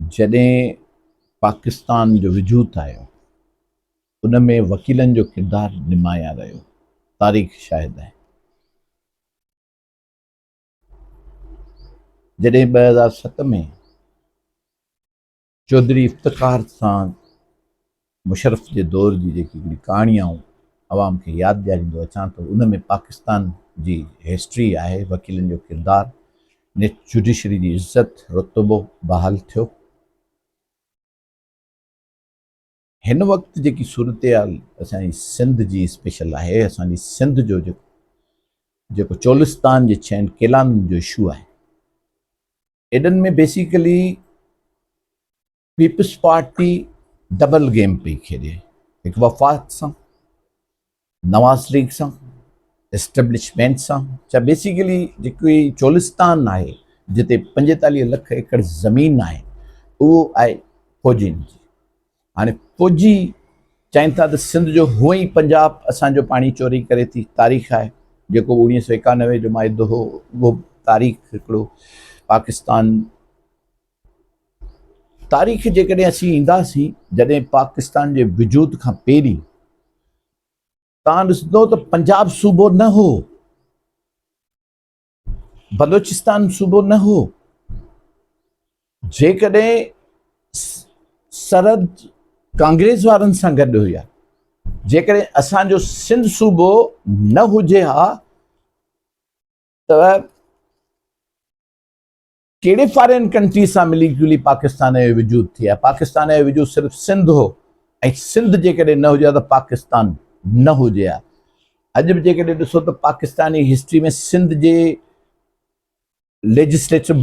جڏهن پاڪستان جو وجود آيو ان ۾ وڪيلن جو ڪردار نمايان رهيو تاريخ شاهد آهي جڏهن ٻه هزار ست ۾ چوڌري افتخار سان مشرف جي دور جي جيڪي هڪڙي ڪهاڻي آئون عوام کي ياد ڏياريندو اچان ٿو ان ۾ پاڪستان جي هسٽري آهي وڪيلن جو ڪردار نيٺ جوڊيشري جي عزت رتبو بحال ٿيو. هن وقت جيڪي صورتحال اسان جي سنڌ جي اسپيشل آهي اسان جي سنڌ جو جيڪو جيڪو چولستان جي ڇهن قلعن جو اشو آهي ايڏن ۾ basically Peoples Party double game پئي کيڏي، هڪ وفاق سان، نواز ليگ سان، اسٽيبلشمينٽ سان، چا بيسيڪلي جيڪو هي چولستان آهي، جتي پنجيتاليهه لک ايڪڙ زمين آهي، اهو آهي فوجين جي. هاڻي فوجي چائين ٿا ته سنڌ جو هونء ئي پنجاب اسان جو پاڻي چوري ڪري ٿي، تاريخ آهي، جيڪو اوڻيهه سؤ ايڪانوي جو معاهدو هو، اهو به تاريخ هڪڙو پاڪستان تاريخ جيڪڏهن اسين اينداسين جڏهن پاڪستان جي وجود کان پهرين تان ڏسندو ته پنجاب صوبو نه هو بلوچستان صوبو نه هو جيڪڏهن سرحد ڪانگريس وارن سان گڏ هئي جيڪڏهن اسانجو سنڌ صوبو نه هجي ها ته ڪهڙي فارين ڪنٽري سان ملي جلي پاڪستان جو وجود ٿئي ها. پاڪستان جو وجود صرف سنڌ هو ۽ سنڌ جيڪڏهن نه هجي ها ته پاڪستان نه هجي ها. اڄ به جيڪڏهن ڏسو ته پاڪستاني هسٽري ۾ سنڌ جي ليجسليٽو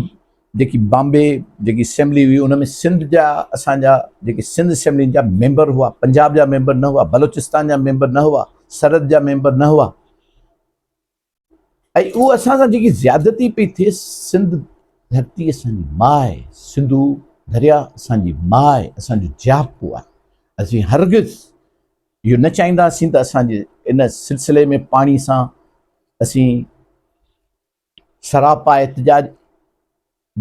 جيڪي بامبي جيڪي اسيمبلي هئي ان ۾ سنڌ جا اسان جا جيڪي سنڌ اسيمبلين جا ميمبر هئا پنجاب جا ميمبر نه هئا بلوچستان جا ميمبر نه هئا سرحد جا ميمبر نه هئا ۽ اهو اسان سان جيڪي زيادتي پئي ٿئي سنڌ ڌرتي اسان جي ماء آهي سنڌو دريا اسان جي ماء آهي اسان جو جياپو آهي اسين هرگز اهو نه چاهينداسين ته اسان جي ان سلسلي ۾ پاڻي سان اسين سراپا احتجاج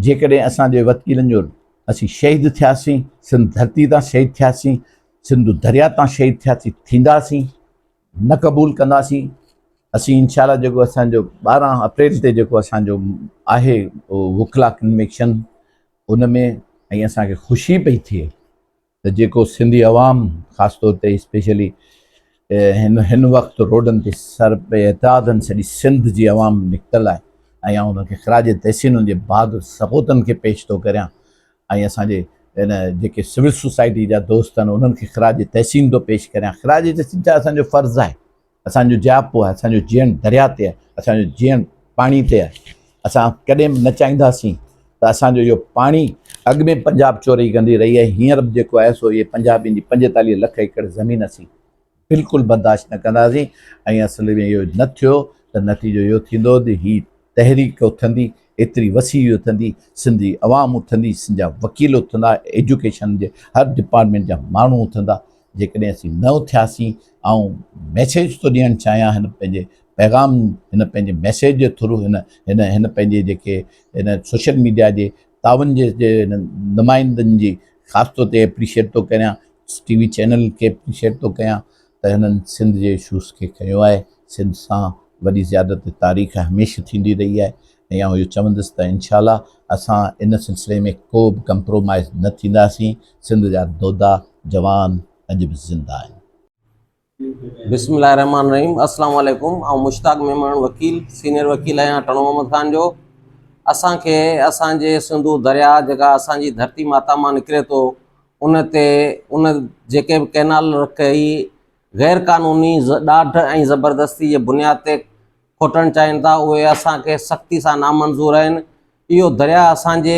جيڪڏهن اسان جي وتڪيلن جو اسين شهيد ٿياسين، سنڌ ڌرتي تان شهيد ٿياسين، سنڌو درياء تان شهيد ٿياسين، ٿينداسين، نه قبول ڪنداسين، اسين انشاء الله جيڪو اسان جو ٻارهن اپريل تي جيڪو اسان جو آهي وڪلا ڪنويڪشن ان ۾ ۽ اسان کي خوشي پئي ٿئي ته جيڪو سنڌي عوام خاص طور تي اسپيشلي هن هن وقت روڊن تي سر پئي اتحادن سڄي سنڌ جي عوام نڪتل آهي ۽ آئون انهن کي خراج تحسين ان جي بهادر سپوتن کي پيش ٿو ڪريان ۽ اسان جي ان جيڪي سول سوسائٽي جا دوست آهن انهن کي خراج تحسين ٿو پيش ڪريان خراج تحسين ڇا اسان جو فرض آهي اسان جو جياپو آهي، اسان جو جيئڻ درياء تي آهي، اسان جو جيئڻ پاڻي تي آهي، اسان ڪڏهن به نه چاهينداسين ته اسان جو اهو پاڻي، اڳ ۾ پنجاب چوري ڪندي رهي آهي، هينئر به جيڪو آهي سو اهي پنجابين جي پنجيتاليهه لک ايڪڙ زمين اسين بلڪل برداشت نه ڪنداسين ۽ اصل ۾ اهو نه ٿيو ته نتيجو اهو ٿيندو ته هي تحريڪ اٿندي، ايتري وسيع اٿندي، سنڌ جي عوام اٿندي، سنڌ جا وڪيل اٿندا، ايجوڪيشن جي هر ڊپارٽمينٽ جا ماڻهو اٿندا، جيڪڏهن اسين نه اٿياسين آئون ميسيج ٿو ڏيڻ چاهيان هن پنهنجي پيغام هن پنهنجي ميسيج جي ٿرو هن هن هن پنهنجي جيڪي هن سوشل ميڊيا جي تعاون جي نمائندن جي خاص طور تي اپريشيٽ ٿو ڪريان ٽي وي چينل کي اپريشيٽ ٿو ڪيان ته هنن سنڌ جي اشوز کي کنيو آهي سنڌ سان وڏي زيادت تاريخ هيمشه ٿيندي رهي آهي ۽ آئون اهو چوندس ته انشاء الله اسان ان سلسلي ۾ ڪوبه ڪمپرومائيز نه ٿينداسين، سنڌ جا دودا جوان اڄ به زنده آهن. بسم الله الرحمٰن الرحيم اسلام عليڪم آئون مشتاق ميمڻ وڪيل سينئر وڪيل آهيان ٽڻو محمد خان جو اسان کي اسان جي سنڌو درياء جيڪا اسان جي ڌرتي ماتا مان نڪري ٿو ان تي ان جيڪي به ڪينال رکئي غير قانوني ڏاڍ ۽ زبردستي جي بنياد تي کوٽڻ چاهين ٿا اهي اسان کي سختي سان نامنظور آهن، اهو درياهه اسان جي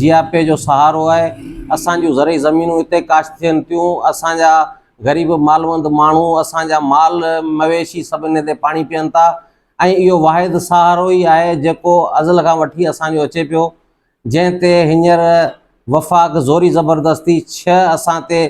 جياپي جو سهارو آهي، اسان جون زرعي زمينون هتي ڪاشت ٿين ٿيون، اسان جا غريب مالوند ماڻهو اسان جا مال مويشي سڀ انهي تي پاڻي پيئن ٿا ۽ اهو واحد سهارو ئي آهي جيڪو ازل کان وٺي اسان جو اچي پيو جنهن تي هينئر وفاق زوري زبردستي ڇهه اسان تي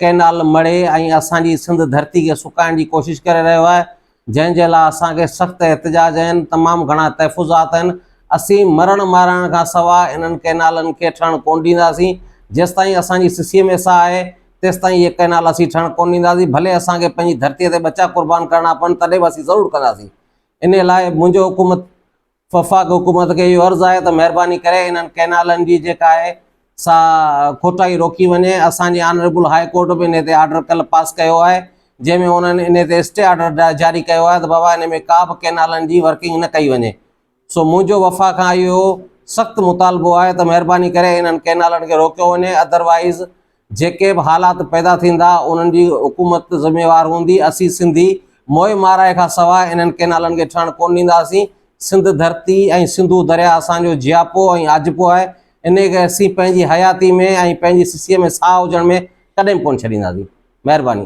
ڪئنال مڙهي ۽ اسان جي سنڌ ڌرتي کي سڪائڻ جي ڪوشش ڪري رهيو آهي جنهن جي لاء اسان کي سخت احتجاج آهن تمام گهڻا تحفظات آهن اسين مرڻ مارائڻ کان سوا انهن ڪئنالن کي ٺهڻ ڪون ڏينداسين جيستائين اسان جي سسيء ۾ ساهه آهي تيستائين اهي ڪئنال اسين ٺهڻ ڪون ڏينداسين ڀلي اسان کي پنهنجي ڌرتي تي ٻچا قربان ڪرڻا پون تڏهن به اسين ضرور ڪنداسين انهي لاء منهنجو حڪومت وفاقي حڪومت کي اهو عرض آهي ته مهرباني ڪري انهن ڪئنالن جي جيڪا آهي سا کوٽائي روڪي وڃي، اسان جي آنريبل هاء ڪورٽ به انهي تي آرڊر ڪلهه پاس ڪيو آهي جنهن ۾ انهن انهي تي اسٽي آرڊر جاري ڪيو آهي ته بابا انهي ۾ ڪا به ڪئنالن جي ورڪنگ نه ڪئي وڃي سو منهنجو وفاق کان اهو سخت مطالبو آهي ته مهرباني ڪري انهن ڪئنالن کي روڪيو وڃي اڌروائيز جيڪي به حالات پيدا ٿيندا انهن جي حڪومت ذميوار هوندي، اسين سنڌي موئي مارائي کان سواء انهن ڪينالن کي ٺهڻ ڪونه ڏينداسين، سنڌ ڌرتي ۽ سنڌو درياء اسان جو جياپو ۽ آجپو آهي، انهي کي اسين پنهنجي حياتي ۾ ۽ پنهنجي سسيء ۾ ساهه هجڻ ۾ ڪڏهن به ڪونه ڇڏينداسين. مهرباني.